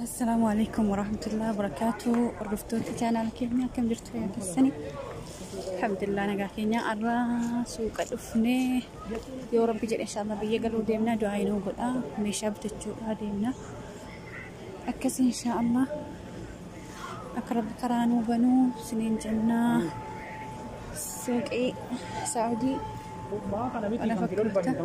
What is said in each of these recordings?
Assalaamu alaikum warahmatullahi wabarakatuh. Hordoftoota chaanaal keenya akkam jirtu fayyaa keessanii? Alhamdulillah nagaa keenya har'a suuqa dhufnee yoo rabbi jedhe inshallah biyya galuu deemna du'aa inuu godha meeshaa bitachuudhaa deemna. Akkas inshallah akka rabbi karaa nuu banuu siniin jennaa suuqii saa'udii kana fakkaata.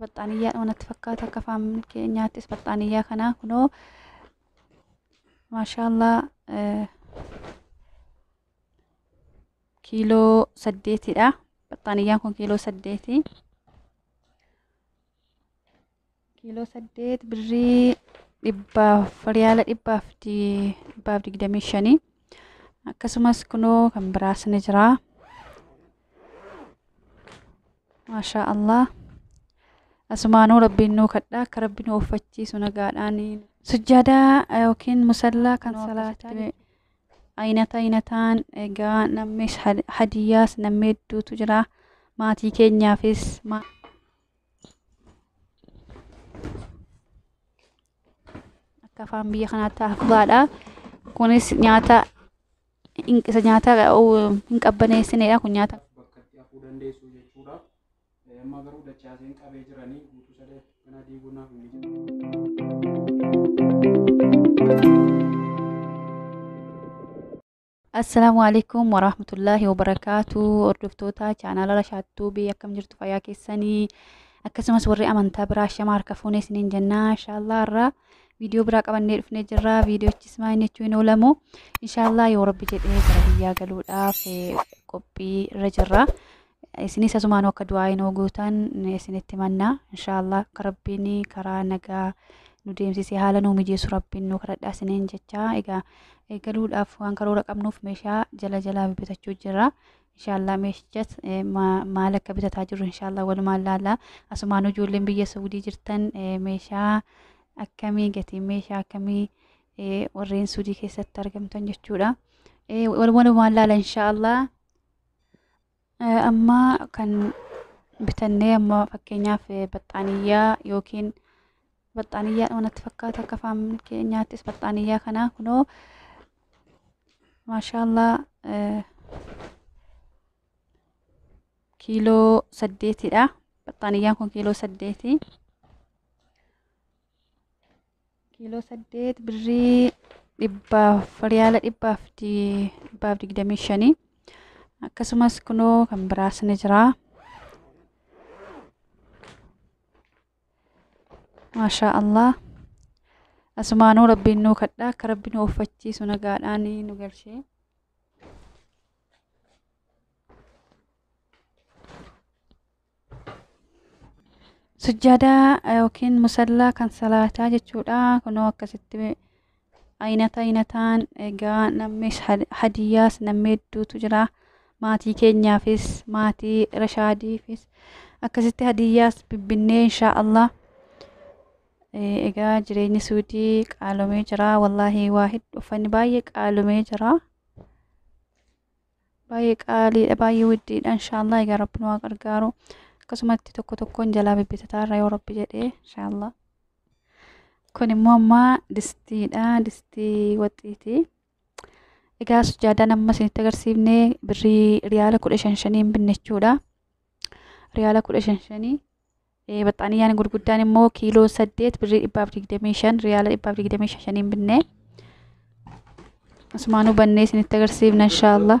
Baxxaaniyyaadhuma natti fakkaata akka afaan keenyaattis baxxaaniyyaa kanaa kunoo maashaallaa eh, kiiloo saddeetidha. Baxxaaniyyaan kun kiiloo saddeeti. Kiiloo saddeet birrii dhibbaaf riyaala dhibbaaf di- dhibbaaf digdamii shanii. Akkasumas kunoo kan biraas ni jira. Maashaa Allah. Asumaanuu rabbiin nuu kadha akka rabbi nu ooffachiisu nagaadhaan. Sujjaadaa eh, yookiin musallaa kan Nuu salaataa akkasitti jechuudha. aynata aynataan egaa namnis had- hadiyyaas namni hedduutu jira. Maatii keenyaafis ma- akka afaan biyya kanaatti hafbaadha. Kunis nyaata Isa nyaata hin qabbaneessineedha kun nyaata. Bakkatti hafuu dandeessu jechuudha. Amma garuu dachaaseen qabee jiranii guutuu sadee kana diiguu naaf hin Assalaamu alaikum warahmatullaahi wabarakaatu hordoftoota chaanaala Rashaattuu biyya akkam jirtu fayyaa keessanii akkasumas warri amantaa biraa shama harka fuunee isiniin jennaa inshaallah irraa viidiyoo biraa qabannee dhufnee jirra viidiyochis maayini jechuu hin oolamu inshaallah yoo rabbi jedhee gara biyyaa galuudhaaf qophii irra jirra isinis asumaan akka du'aa hin gootan isinitti manna inshaallah akka rabbiin karaa nagaa nu deemsisee haala nuu mijeessu rabbiin nu kadhadhaa isiniin jechaa egaa galuudhaaf waan karoora qabnuuf meeshaa jala jalaa bitachuu jirra Inshaallah meeshichas eh, ma- maal akka bitataa jirru inshaallah walumaan laalla. Asumaanuu ijoolleen biyya Suudii jirtan eh, meeshaa akkamii gatiin meeshaa akkamii eh, warreen Suudii keessatti argamtan jechuudha. Eh, wal- Walumaan laalla inshaallah. Eh, Amma kan bitannee amma fakkeenyaaf eh, baxxaaniyyaa yookiin Baxxaaniyyaadhuma natti fakkaata akka afaan keenyaattis baxxaaniyyaa kanaa kunoo maashaallaa eh, kiiloo saddeetidha. Baxxaaniyyaan kun kiiloo saddeeti. Kiiloo saddeet birrii dhibbaaf riyaala dhibbaaf di- dhibbaaf digdamii shanii. Akkasumas kunoo kan biraas ni jira. maashaa allah asumaanuu rabbiin nuu kadhaa akka rabbi nu uffachiisu nagaadhaan nu galchee sujjaadaa yookiin musallaa kan salaataa jechuudha kunoo akkasitti Aynata aynataan egaa nammees hadiyyaas nammee hedduutu jira. Maatii keenyaafis maatii Rashaadiifis akkasitti hadiyyaas bibbinnee inshaa Allah. Egaa jireenyi suudii qaalomee jira. Wallaahi waa hedduu uffanni baay'ee qaalomee jira. Baay'ee qaaliidha baay'ee widdiidha inshaa Allah egaa rabbi nu haa gargaaru. Akkasumatti tokko tokkoon jalaa bibbitataa irra yoo rabbi jedhee inshaa Allah. Kun immoo amma distiidha. Distii waxiiti. Egaa sujaadaan amma isinitti agarsiifne birrii riyaala kudha shan shaniin binne jechuudha. Riyaala kudha shan shanii. Eh, Baxxaaniyyaan gurguddaan immoo kiiloo saddeet birrii dhibbaaf digdamii shan riyaala dhibbaaf digdamii shan shaniin binne. Asumaanuu bannee isinitti agarsiifna inshaallah.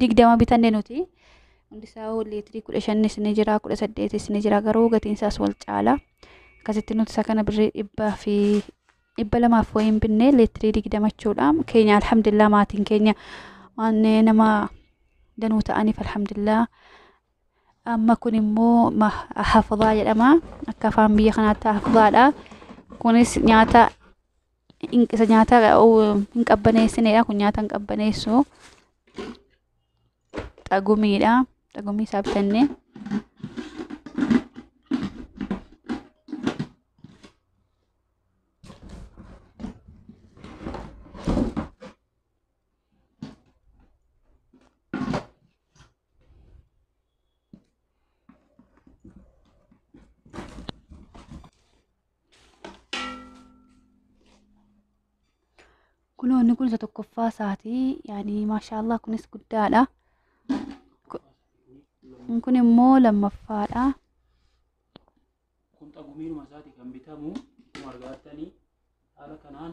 digdama bitanne nuti hundisaa liitirii kudha shannis ni jira kudha saddeetis ni jira garuu gatiinsaas wal caala akkasitti nuti isa kana birrii dhibbaa fi dhibba lamaaf wayiin binnee liitirii digdama jechuudha keenya alhamdulillah maatiin keenya waan nama danuu ta'aniif alhamdulillah amma kun immoo hafabaa jedhama akka afaan biyya kanaatti hafabaadha kunis nyaata isa nyaata hin qabbaneessineedha. Kun nyaata hin qabbaneessu. Xagumiidha. Xagumii isaa bitannee. kunoo inni kun isa tokkoffaa isaati yaani maashaallah kunis guddaadha Kun- kun immoo lammaffaadha kun xagumiinuma isaati kan bitamu akkuma argaatanii haala kanaan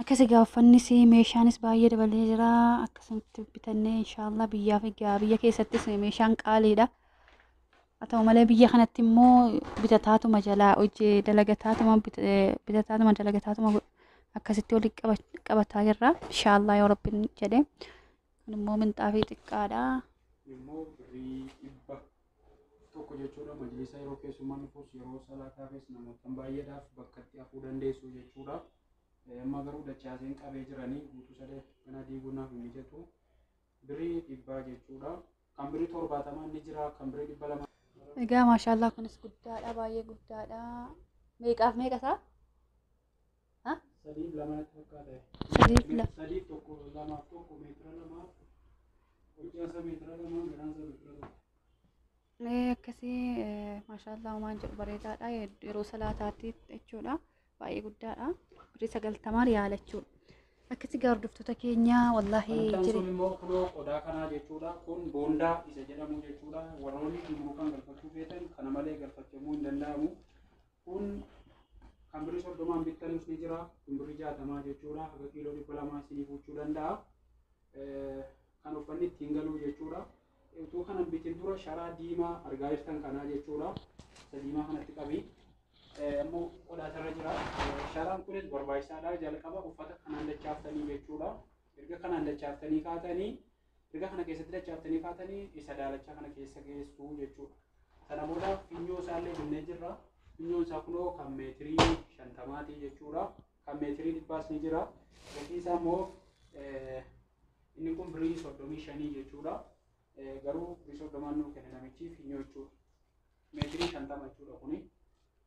akkasi gaaffannis meeshaanis baay'ee dabalee jira akkasumatti bitannee inshaallah biyyaa fi gaa biyya keessattis meeshaan qaaliidha haa ta'u malee biyya kanatti immoo bitataatuma jalaa hojii dalagataatuma bit- eh, bitataatuma dalagataatuma godhu. akkasitti walitti qaba- qabataa jirra inshaallah yoo rabbiin jedhe kun immoo minxaafii xiqqaadha immoo birrii dhibba tokko jechuudha majlisa yeroo keessummaan dhufus yeroo salaataafis namootan baay'eedhaaf bakkatti hafuu dandeessu jechuudha amma garuu dachaaseen qabee jiranii guutuu sadee kana diiguunaaf hin mijatu birii dhibbaa jechuudha kan birii torbaatamaan ni jira kan birii dhibba lama Egaa maashaallah kunis guddaadha baay'ee guddaadha. Meeqaaf meeqa isaa? Ha? Sadiif lama natti fakkaata. Sadiif lama. Sadiif tokko lamaaf tokko meetira lamaaf hojjaansa meetira lamaan gadaansa meetira tokko. Ee, akkasii ee, maashaallah homaan jedhu bareedaadha Yed- yeroo salaataatti jechuudha baay'ee guddaadha birrii sagaltamaa riyaala jechuudha akkasii gaa hordoftoota keenya wallaahi Kan sun jiri immoo kunoo qodaa kanaa jechuudha. Kun boondaa isa jedhamu jechuudha. Warroonni gumruukaan galfachuu feetan kana malee galfachamuu hin danda'amu. Kun kan birri soddomaan bittanus ni jira. Kun birri jaatamaa jechuudha. Haga kiiloo dhibba lamaa isinii fuuchuu danda'a. Kan uffanni ittiin galuu jechuudha. Utuu kana hin bitin dura sharaa diimaa argaa jirtan kanaa jechuudha. Isa diimaa kanatti qabi. Ammoo qodaa isarra jira. Sharaan kunis barbaachisaadha. Jalqaba uffata kanaan dachaaftanii jechuudha. Erga kanaan dachaaftanii kaatanii Erga kana keessatti dachaaftanii kaatanii isa daalachaa kana keessa geessu jechuudha. Sana booda finyoo isaallee binnee jirra. Finyoon isaa kunoo kan meetirii shantamaati jechuudha. Kan meetirii dhibbaas ni jira. Gatiin isaa immoo inni kun birii soddomii shanii jechuudha. Garuu birii soddomaan nuu kenne namichi finyoo jechuudha. Meetirii shantama jechuudha kuni.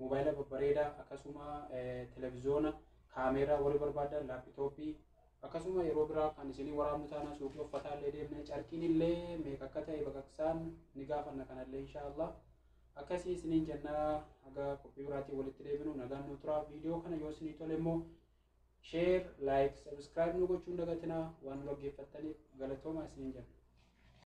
Mobaayila babbareeda akkasuma televizoona kaameeraa warri barbaadan laappitooppii akkasuma yeroo biraa kan isinii waraabnu taanaa suuqii uffataa illee deemne carqiin illee meeqa akka ta'e baqaqsaan ni gaafanna kanallee inshaallah akkasii isiniin jennaa haga qophii biraatiin walitti deebinu nagaan nu turaa viidiyoo kana yoo isinii tole immoo sheer laayik sabiskiraayib nu gochuun dagatinaa waan nu dhaggeeffattaniif galatoomaa isiniin jenna.